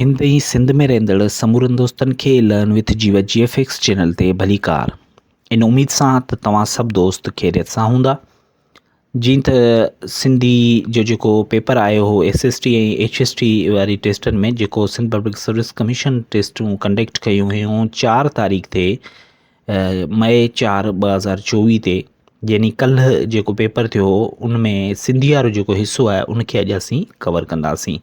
هند ۽ سنڌ ۾ رهندڙ سمورن دوستن کي لرن وٿ جي وجي ايف ايڪس چينل تي ڀليڪار ان اميد سان ته توهان سڀ دوست خيريت سان هوندا جيئن ته سنڌي جو جيڪو پيپر آيو هو S S T ۽ H S T واري ٽيسٽن ۾ جيڪو سنڌ پبلڪ سروس ڪميشن ٽيسٽون ڪنڊڪٽ ڪيون هيون چار تاريخ تي مئي چار ٻه هزار چوويهه تي يعني کل جو پيپر ٿيو ان ۾ سنڌي وارو جو حصو آهي ان کي اڄ اسين ڪور ڪنداسين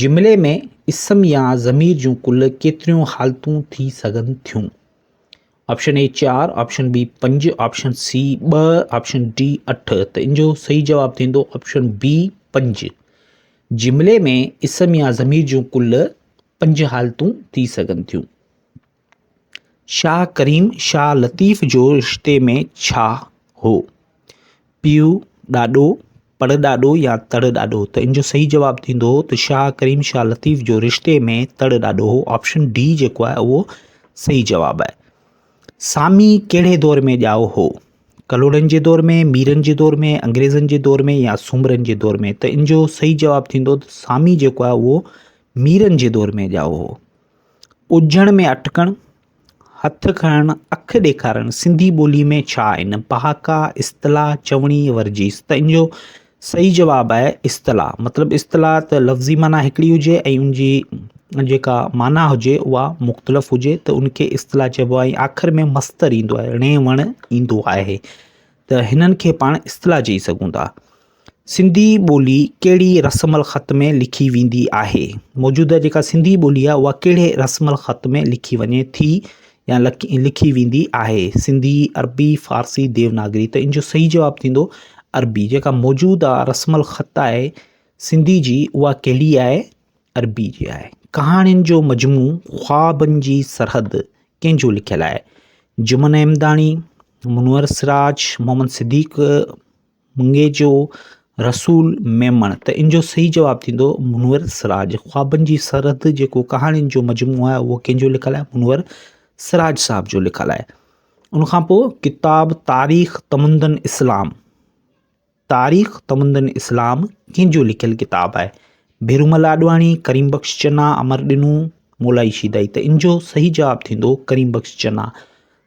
جملي ۾ اسم يا ضمير جون ڪل ڪيتريون حالتون ٿي سگهن ٿيون؟ آپشن اي چار آپشن بي پنج آپشن سي ٻه آپشن ڊي اٺ ته ان جو صحيح جواب ٿيندو آپشن بي پنج جملي ۾ اسم يا ضمير جون ڪل پنج حالتون ٿي سگهن ٿيون شاهه ڪريم شاهه لطيف جو رشتي ۾ ڇا هو؟ پيء ڏاڏو، پڙ ڏاڏو يا تڙ ڏاڏو؟ ته ان جو صحيح جواب ٿيندو ته شاهه ڪريم شاهه لطيف جو رشتي ۾ تڙ ڏاڏو هو. آپشن ڊي جيڪو آهي اهو صحيح جواب آهي. سامي ڪهڙي دور ۾ ڄائو هو؟ ڪلهوڙن جي دور ۾، ميرن جي دور ۾، انگريزن جي دور ۾ يا سومرن جي دور ۾؟ ته ان جو صحيح جواب ٿيندو ته سامي جيڪو آهي اهو ميرن جي دور ۾ ڄائو هو. ٻجهڻ ۾ اٽڪڻ، هٿ کڻڻ، اک ڏيکارڻ سنڌي ٻوليء ۾ ڇا آهن؟ پهاڪا، اصطلاح، چوڻي، ورجيس ته ان جو صحيح جواب آهي اصطلاح مطلب اصطلاح ته لفظي معنيٰ هڪڙي هجي ۽ ان جي جيڪا معنيٰ هجي اها مختلف هجي ته ان کي اصطلاح چئبو آهي ۽ آخر ۾ مصدر ايندو آهي ڙي وڻ ايندو آهي ته هنن کي پاڻ اصطلاح چئي سگهون ٿا سنڌي ٻولي ڪهڙي رسم الخط ۾ لکي ويندي آهي موجوده جيڪا سنڌي ٻولي آهي اها ڪهڙي رسم الخط ۾ لکي وڃي ٿي يا لکي ويندي آهي سنڌي عربي فارسي ديوناگري ته ان جو صحيح جواب ٿيندو عربي جيڪا موجوده رسم الخط آهي سنڌي جي اها ڪهڙي آهي عربي جي آهي ڪهاڻين جو مجموع خوابن جي سرحد ڪنهن جو لکيل آهي جمن احمداڻي منور سراج محمد صديق منگي جو رسول ميمڻ ته ان جو صحيح جواب ٿيندو منور سراج خوابن جي سرحد جيڪو ڪهاڻين جو مجموعو آهي اهو ڪنهن جو لکل آهي منور سراج صاحب جو لکل آهي ان کان پوء ڪتاب تاريخ تمندن اسلام تاريخ تمندن اسلام ڪنهن جو لکيل ڪتاب آهي بيرومل آڏواڻي ڪريم بخش چنا امر ڏنو مولا شيدائي ته ان جو صحيح جواب ٿيندو ڪريم بخش چنا